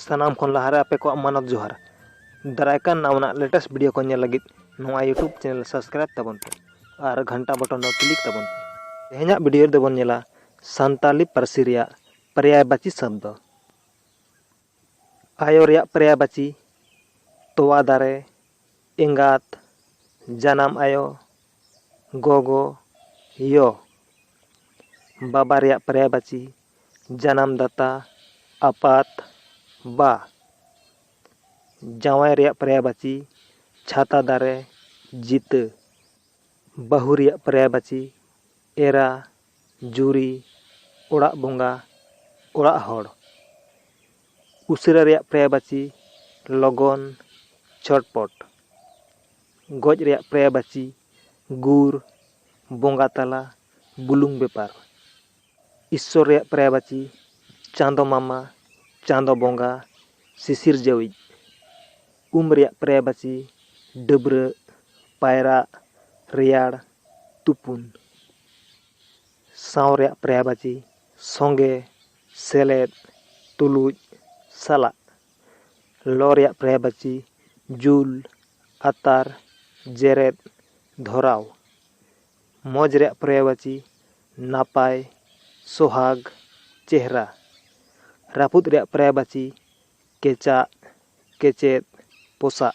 ᱥᱟᱱᱟᱢ ᱠᱷᱚᱱ ᱞᱟᱦᱟᱨᱮ ᱟᱯᱮ ᱠᱚᱣᱟᱜ ᱢᱟᱱᱚᱛ ᱡᱚᱦᱟᱨ ᱫᱟᱨᱟᱭ ᱠᱟᱱ ᱱᱟᱣᱟᱱᱟᱜ ᱞᱮᱴᱮᱥᱴ ᱵᱷᱤᱰᱤᱭᱳ ᱠᱚ ᱧᱮᱞ ᱞᱟᱹᱜᱤᱫ ᱱᱚᱣᱟ ᱤᱭᱩᱴᱩᱵᱽ ᱪᱮᱱᱮᱞ ᱥᱟᱵᱥᱠᱨᱟᱭᱤᱵ ᱛᱟᱵᱚᱱ ᱯᱮ ᱟᱨ ᱜᱷᱟᱱᱴᱟ ᱵᱚᱴᱚᱱ ᱫᱚ ᱠᱞᱤᱠ ᱛᱟᱵᱚᱱ ᱯᱮ ᱛᱮᱦᱮᱧᱟᱜ ᱵᱷᱤᱰᱤᱭᱳ ᱨᱮᱫᱚ ᱵᱚᱱ ᱧᱮᱞᱟ ᱥᱟᱱᱛᱟᱞᱤ ᱯᱟᱹᱨᱥᱤ ᱨᱮᱭᱟᱜ ᱯᱨᱮᱭᱟᱭᱵᱟᱪᱤ ᱥᱚᱵᱫᱚ ᱟᱭᱳ ᱨᱮᱭᱟᱜ ᱯᱨᱮᱭᱟᱭᱵᱟᱪᱤ ᱛᱚᱣᱟ ᱫᱟᱨᱮ ᱮᱸᱜᱟᱛ ᱡᱟᱱᱟᱢ ᱟᱭᱳ ᱜᱚᱜᱚ ᱭᱚ ᱵᱟᱵᱟ ᱨᱮᱭᱟᱜ ᱯᱨᱮᱭᱟᱭᱵᱟᱪᱤ ᱡᱟᱱᱟᱢ ᱫᱟᱛᱟ ᱟᱯᱟᱛ ᱵᱟ ᱡᱟᱶᱟᱭ ᱨᱮᱭᱟᱜ ᱯᱨᱟᱭᱟᱵᱟᱪᱤ ᱪᱷᱟᱛᱟ ᱫᱟᱨᱮ ᱡᱤᱛᱟᱹ ᱵᱟᱹᱦᱩ ᱨᱮᱭᱟᱜ ᱯᱨᱟᱭᱟᱵᱟᱪᱤ ᱮᱨᱟ ᱡᱩᱨᱤ ᱚᱲᱟᱜ ᱵᱚᱸᱜᱟ ᱚᱲᱟᱜ ᱦᱚᱲ ᱩᱥᱟᱹᱨᱟ ᱨᱮᱭᱟᱜ ᱯᱨᱟᱭᱟᱵᱟᱪᱤ ᱞᱚᱜᱚᱱ ᱪᱷᱚᱴᱯᱚᱴ ᱜᱚᱡ ᱨᱮᱭᱟᱜ ᱯᱨᱟᱭᱟᱵᱟᱪᱤ ᱜᱩᱨ ᱵᱚᱸᱜᱟ ᱛᱟᱞᱟ ᱵᱩᱞᱩᱝ ᱵᱮᱯᱟᱨ ᱤᱥᱥᱚᱨ ᱨᱮᱭᱟᱜ ᱯᱨᱟᱭᱵᱟᱪᱤ, ᱪᱟᱸᱫᱚ ᱢᱟᱢᱟ, ᱪᱟᱸᱫᱚ ᱵᱚᱸᱜᱟ, ᱥᱤᱥᱤᱨᱡᱟᱹᱣᱤᱡ᱾ ᱩᱢ ᱨᱮᱭᱟᱜ ᱯᱨᱟᱭᱵᱟᱪᱤ, ᱰᱟᱹᱵᱽᱨᱟᱹᱜ, ᱯᱟᱭᱨᱟᱜ, ᱨᱮᱭᱟᱲ, ᱛᱩᱯᱩᱱ᱾ ᱥᱟᱶ ᱨᱮᱭᱟᱜ ᱯᱨᱟᱭᱵᱟᱪᱤ, ᱥᱚᱸᱜᱮ, ᱥᱮᱞᱮᱫ, ᱛᱩᱞᱩᱡ, ᱥᱟᱞᱟᱜ᱾ ᱞᱚ ᱨᱮᱭᱟᱜ ᱯᱨᱟᱭᱵᱟᱪᱤ, ᱡᱩᱞ, ᱟᱛᱟᱨ, ᱡᱮᱨᱮᱫ, ᱫᱷᱚᱨᱟᱣ᱾ ᱢᱚᱡᱽ ᱨᱮᱭᱟᱜ ᱯᱚᱨᱭᱟᱭᱵᱟᱪᱤ ᱱᱟᱯᱟᱭ ᱥᱚᱦᱟᱜᱽ ᱪᱮᱦᱨᱟ ᱨᱟᱹᱯᱩᱫ ᱨᱮᱭᱟᱜ ᱯᱚᱨᱭᱟᱭᱵᱟᱪᱤ ᱠᱮᱪᱟᱜ ᱠᱮᱪᱮᱫ ᱯᱚᱥᱟᱜ